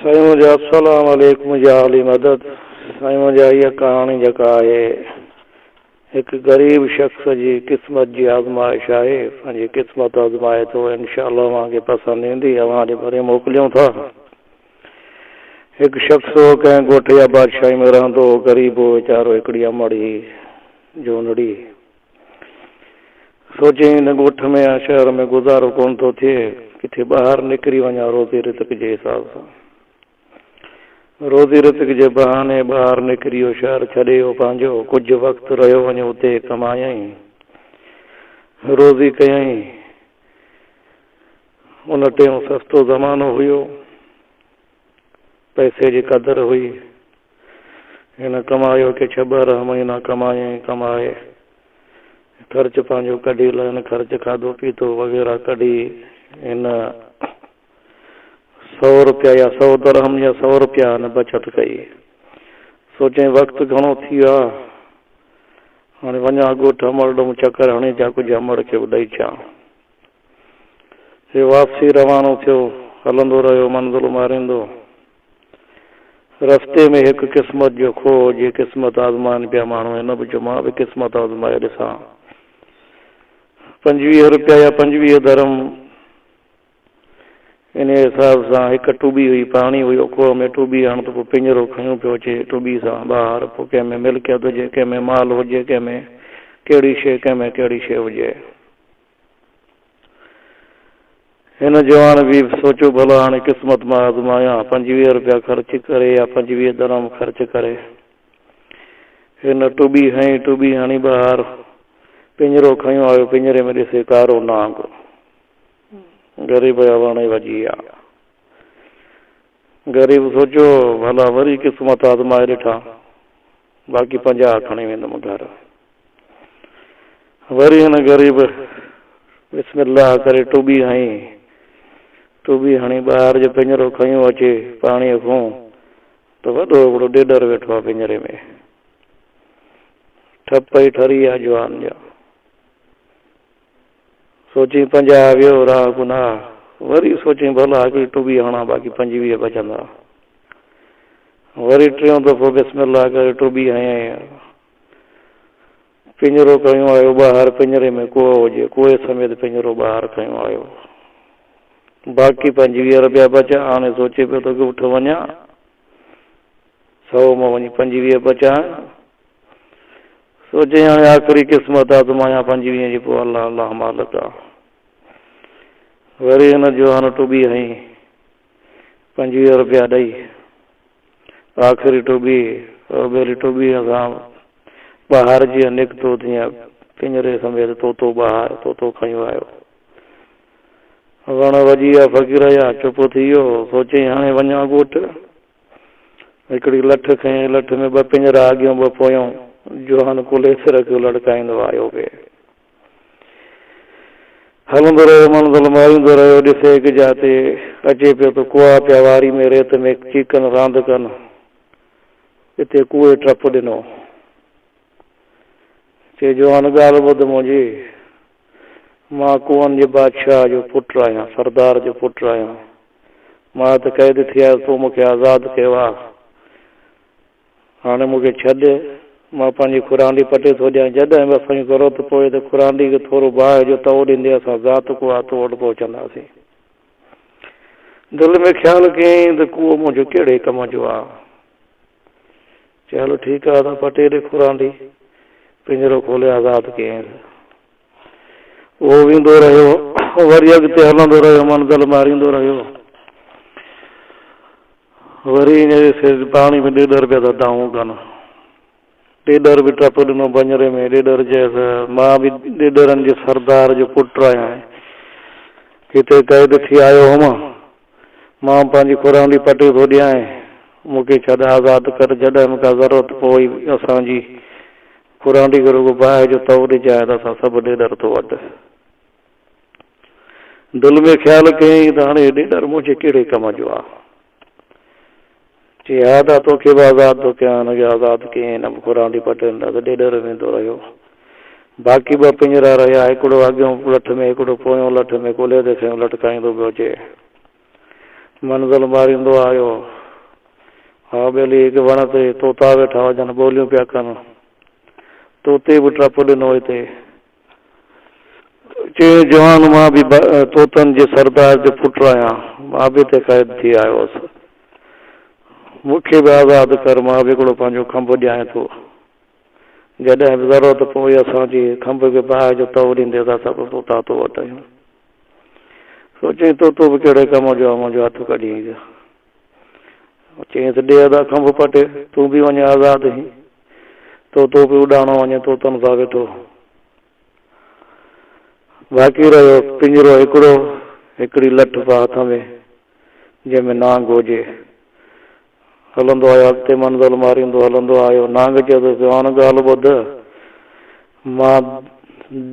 سائين منهنجا السلام عليڪم يا علي مدد سائين منهنجا هيء ڪهاڻي جيڪا آهي هڪ غريب شخص جي قسمت جي آزمائش آهي پنهنجي قسمت آزمائي ٿو انشاء الله اوهان کي پسند ايندي اوهان جي ڀري موڪليون ٿا هڪ شخص هو ڪنهن ڳوٺ يا بادشاهي ۾ رهندو هو غريب هو ويچارو هڪڙي امڙ هئي جونڙي سوچين هن ڳوٺ ۾ يا شهر ۾ گذارو ڪونه ٿو ٿئي، ڪٿي ٻاهر نڪري وڃان روزي رزق جي حساب سان. روزي رزق جي بهاني ٻاهر نڪري اهو شهر ڇڏي اهو پنهنجو ڪجهه وقت رهيو وڃي اتي ڪمايائين روزي ڪيائين. ان ٽيم سستو زمانو هيو. پئسي جي قدر هئي. هن ڪمايو ڪي ڇهه ٻارهن مهينا ڪمائي ۽ ڪمائي خرچ پنهنجو ڪڍي لئن خرچ کاڌو پيتو وغيره ڪڍي هن سؤ روپيا يا سؤ درهم يا سؤ روپيا هن بچت ڪئي. سوچيائين وقت گهڻو ٿي ويو آهي هاڻي وڃان ڳوٺ امڙ ڏون چڪر هڻي اچان ڪجهه امڙ کي به ڏئي اچان. هي واپسي روانو ٿيو. هلندو رهيو منزل ماريندو. رستي ۾ هڪ قسمت جو کوهه هو جي قسمت آزمائن پيا ماڻهو هن به چيو مان به قسمت آزمائي ڏسان پنجويهه روپيا يا پنجويهه درهم انهيء حساب سان هڪ ٽٻي هئي پاڻي هيو کوهه ۾ ٽٻي هڻ ته پوء پڃرو کنيو پيو اچي ٽٻي سان ٻاهر پوء ڪنهن ۾ ملڪيت هجي ڪنهن ۾ مال هجي ڪنهن ۾ ڪهڙي شيء ڪنهن ۾ ڪهڙي شيء هجي. هن جوان بي به سوچيو ڀلا هاڻي قسمت مان آزمايان، پنجويهه روپيا خرچ ڪري يا پنجويهه درهم خرچ ڪري. هن ٽٻي هنئي، ٽٻي هڻي ٻاهر پڃرو کنيو آيو، پڃري ۾ ڏسي ڪارو نانگ غريب جا وڻ وڄي ويا. غريب سوچيو ڀلا وري قسمت آزمائي ڏٺان. باقي پنجاهه کڻي ويندم گهر. وري هن غريب بسم الله ڪري ٽٻي هنئي. ٽٻي هڻي ٻاهر جو پڃرو کنيو اچي پاڻيء کون ته وڏو ابڙو ڏيڏر ويٺو آ پڃري ۾. ٺپ ئي ٺري آ جوان جا. سوچين پنجاهه ويو راهه گناهه، وري سوچين ڀلا هڪڙي ٽٻي هڻان باقي پنجويهه بچندا. وري ٽيون دفعو بسم الله ڪري ٽٻي هنيائين. پڃرو کنيو آيو ٻاهر، پڃري ۾ ڪوهه هجي، ڪوهي سميت پڃرو ٻاهر کنيو آيو. باقي پنجويهه رپيا بچيا، هاڻي سوچي پيو ته ڳوٺ وڃان، سئو مان وڃي پنجويهه بچان، سوچيائين هاڻي آخري قسمت آ آزمايان پنهنجي وينهن جي پوء الله الله مالڪ آ وري ان جو هن ٽٻي هنئي پنجويهه روپيا ڏئي آخري ٽٻي اوڀيري ٽٻي سان بهار جيئن نڪتو تيئن پڃري سميت طوطو بهار طوطو کڻي ويو وڻ وڄي ويا فقير جا چپ ٿي ويو سوچيائين هاڻي وڃان ڳوٺ. هڪڙي لٺ کنئي، لٺ ۾ ٻه پڃرا اڳيون ٻه پويون، جوهان ڪلهي تي رکيو لڙڪائيندو آيو پئي. هلندو رهيو منزل ماريندو رهيو، ڏسي هڪ جاء تي اچي پيو ته ڪوئا پيا واري ۾ ريت ۾ چيڪن راند ڪن، اتي ڪوئي ٽپ ڏنو. چي جوهان ڳالهه ٻڌ منهنجي. مان ڪوهن جي بادشاهه جو پٽ آهيان، سردار جو پٽ آهيان. مان ته قيد ٿي آيس، تون مون کي آزاد ڪيو آ. هاڻي مون کي ڇڏ، مان پنهنجي خورانڊي پٽي ٿو ڏيان. جڏهن به اسان کي ضرورت پوي ته خورانڊي کي ٿورو باهه جو تئو ڏيندي اسان ذات ڪوهه تو وٽ پهچنداسين. دل ۾ خيال ڪيائين ته ڪوهه منهنجو ڪهڙي ڪم جو آ. چيائين هلو ٺيڪ آهي ته پٽي ڏي کورانڊي پڃرو کولي آزاد ڪيائينس. اهو ويندو رهيو وري اڳتي هلندو رهيو منزل ماريندو رهيو وري اڃ جي سير پاڻي ۾ ڏيڏر پيا ٿا دانهون ڪن ڏيڏر به ٽپ ڏنو پڃري ۾ ڏيڏر چيس مان به ڏيڏرن جي سردار جو پٽ آهيان هتي قيد ٿي آيو هوم مان پنهنجي کورانڊي پٽيو ٿو ڏيانء، مون کي ڇڏ، آزاد ڪر، جڏهن به ڪا ضرورت پوئي اسان جي کورانڊي کي رڳو باهه جو تئو ڏجانء ته اسان سڀ ڏيڏر ٿو وڍ. دل ۾ خيال ڪيائين ته هاڻ هي ڏيڏر منهنجي ڪهڙي ڪم جو آ؟ چي ها ته توکي به آزاد ٿو ڪيان هن کي آزاد ڪيئين نه به خورانڊي پٽين ڏا ته ڏيڏر ويندو رهيو باقي ٻه پڃرا رهيا هڪڙو اڳيون لٺ ۾ هڪڙو پويون لٺ ۾ ڪلهي تي کنيو لٽڪائيندو پيو اچي منزل ماريندو آيو ها ٻيلي هڪ وڻ تي طوطا ويٺا هجن ٻوليون پيا ڪن طوطي به ٽپ ڏنو هتي چيائين، جوان، مان به توتن جي سردار جو پٽ آهيان، مان به هتي قيد ٿي آيو هوس. مون کي به آزاد ڪر، مان به هڪڙو پنهنجو کنڀ ڏيانء ٿو. جڏهن به ضرورت پوي اسان جي کنڀ کي باهه جو تئو ڏيندي اسان سڀ توتا تو وٽ ايون. سوچيائين، توتو به ڪهڙي ڪم جو آهي، منهنجو هٿ ڪڍيائين جو. چيائينس، ڏي ادا کنڀ پٽي، تون به وڃي آزاد هين. طوطو به اڏاڻو وڃي طوطن سان ويٺو. باقي رهيو پڃرو هڪڙو، هڪڙي لٺ به هٿ ۾، جنهن ۾ نانگ هجي. هلندو آيو اڳتي منزل ماريندو هلندو آيو. نانگ چيس، جوان ڳالهه ٻڌ، مان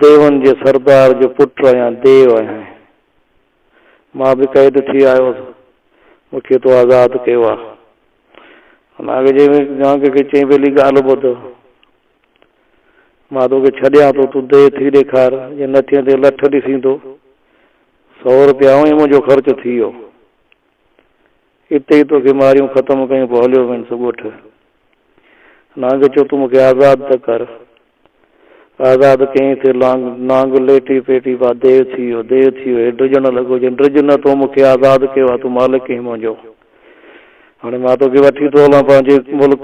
ديون جي سردار جو پٽ آهيان، ديو آهيان. مان به قيد ٿي آيو هوس. مون کي تو آزاد ڪيو آ. هن اڳجي ۾ جهانگير کي چئي پهلي ڳالهه ٻڌ. مان تو کي ڇڏيان ٿو. تون ديهه ٿي ڏيکار. جي نه ٿئين تي لٺ ڏسين ٿو. سؤ روپيا اوهين منهنجو خرچ ٿي ويو. اتي ئي توکي ماريون ختم ڪيون پوء هليو وينس ڳوٺ. نانگ چيو تون مونکي آزاد ته ڪر. آزاد ڪيائين تي لانگ نانگ ليٽي پيٽي ڀا ديو ٿي ويو ديو ٿي ويو هي ڊڄڻ لڳو چيائين ڊڄ نه تو مونکي آزاد ڪيو آهي تون مالڪ آهين منهنجو هاڻي مان توکي وٺي ٿو هلان پنهنجي ملڪ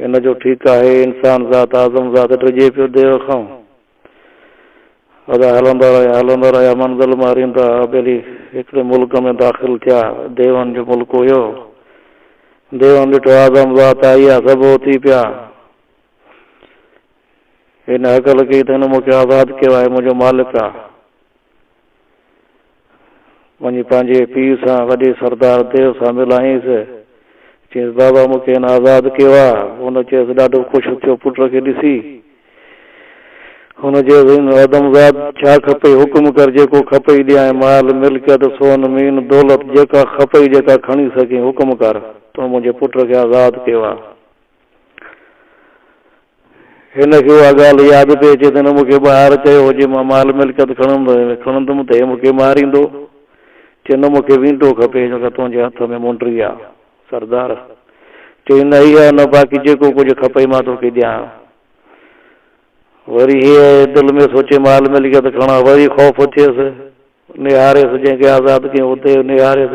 ان جو ٺيڪ آهي انسان ذات اعظم ذات ڊڄي پيو ديو کان ادا هلندا رهيا هلندا رهيا منزل ماريندا ٻيلي هڪڙي ملڪ ۾ داخل ٿيا ديون جو ملڪ هيو ديون ڏٺو اعظم ذات آئي آ سڀ اوتي پيا هن هڪل ڪئي ته هن مون کي آزاد ڪيو آهي منهنجو مالڪ آ وڃي پنهنجي پيء سان وڏي سردار ديو سان ملائينس. چيس، بابا مون کي هن آزاد ڪيو آ. هن چيس، ڏاڍو خوش ٿيو پٽ کي ڏسي. هن چيس، هن آدمزاد ڇا کپئي حڪم ڪر جيڪو کپئي ڏيانء مال ملڪيت سون مين دولت جيڪا کپئي جيڪا کڻي سگهين حڪم ڪر. تو منهنجي پٽ کي آزاد ڪيو آ. هن کي اها ڳالهه ياد پئي اچي ته هن مون کي ٻاهر چيو هو جي مان مال ملڪيت کڻندم ته هي مون کي ماريندو. چي نه مون کي وينٽو کپي جيڪا تنهنجي هٿ ۾ منڊري آ. سردار چي نه اها نه باقي جيڪو ڪجهه کپئي مان تو کي ڏيان. وري هيء دل ۾ سوچي مال ملڪيت کڻان. وري خوف ٿيس نهاريس جنهن کي آزاد ڪيو هو ته نهاريس.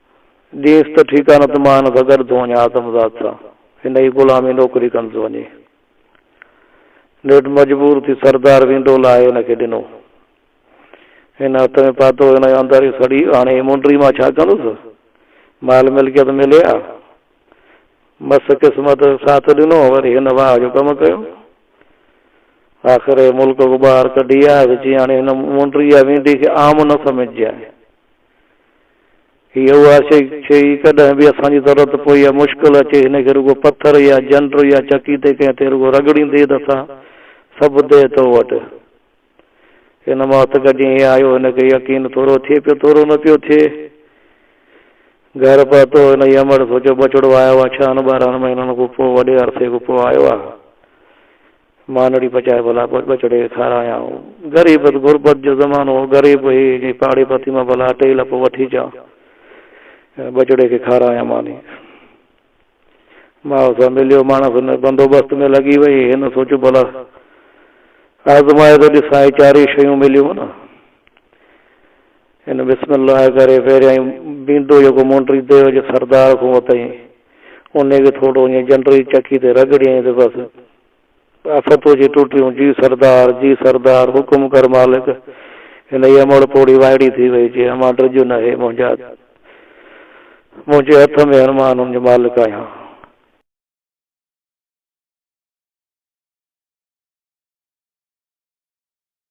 ڏينس ته ٺيڪ آ نه ته مان هن سان گڏ ٿو وڃان آدم زاد سان هن ئي غلامي نوڪري ڪندس وڃي. نيٺ مجبور ٿي سردار وينڊو لاهي هن کي ڏنو. هن هٿ ۾ پاتو هن اندر ئي سڙي هاڻي هي منڊري مان ڇا ڪندس؟ مال ملڪيت ملي ها. مس قسمت ساٿ ڏنو وري هن واهه جو ڪم ڪيو. آخر هي ملڪ کان ٻاهر ڪڍي آيس چيائين هاڻي هن منڊري يا وينڊي کي عام نه سمجهجانء. هي اها شيء ڇي ئي ڪڏهن به اسان جي ضرورت پوي يا مشڪل اچي هن کي رڳو پٿر يا جنڊ يا چڪي تي ڪنهن تي رڳو رڳڙيندي ته اسان سڀ ديهه تو وٽ هن ماهت گڏجي هي آيو هن کي يقين ٿورو ٿئي پيو ٿورو نه پيو ٿئي گهر پهتو هن هي امڙ سوچيو ٻچڙو آيو آ ڇهن ٻارهن مهينن کان پوء وڏي عرصي کان پوء آيو آ. مانڙي پچائي ڀلا ٻچڙي کي کارايان. غريبت غربت جو زمانو هو. غريب هي جي پاڙي پٿي مان ڀلا اٽي لپ وٺي اچان ۽ ٻچڙي کي کارايان ماني. ماء سان مليو ماڻس هن بندوبست ۾ لڳي وئي. هن سوچيو ڀلا آزمائي ته ڏسان هي چارئي شيون مليون نه. هن بسم الله ڪري پهريائين بينڊو جيڪو مونڊري ديو جي سردار کان ورتائين، انهيء کي ٿورڙو ائين جنڊري چڪي تي رڳڙيائين ته بس آفت اچي ٽٽيون، جي سردار، جي سردار، حڪم ڪر مالڪ! هن جي امڙ پوڙهي وائڙي ٿي وئي، چي امان ڊڄ نه هي منهنجا، منهنجي هٿ ۾ هن مان هن جو مالڪ آهيان.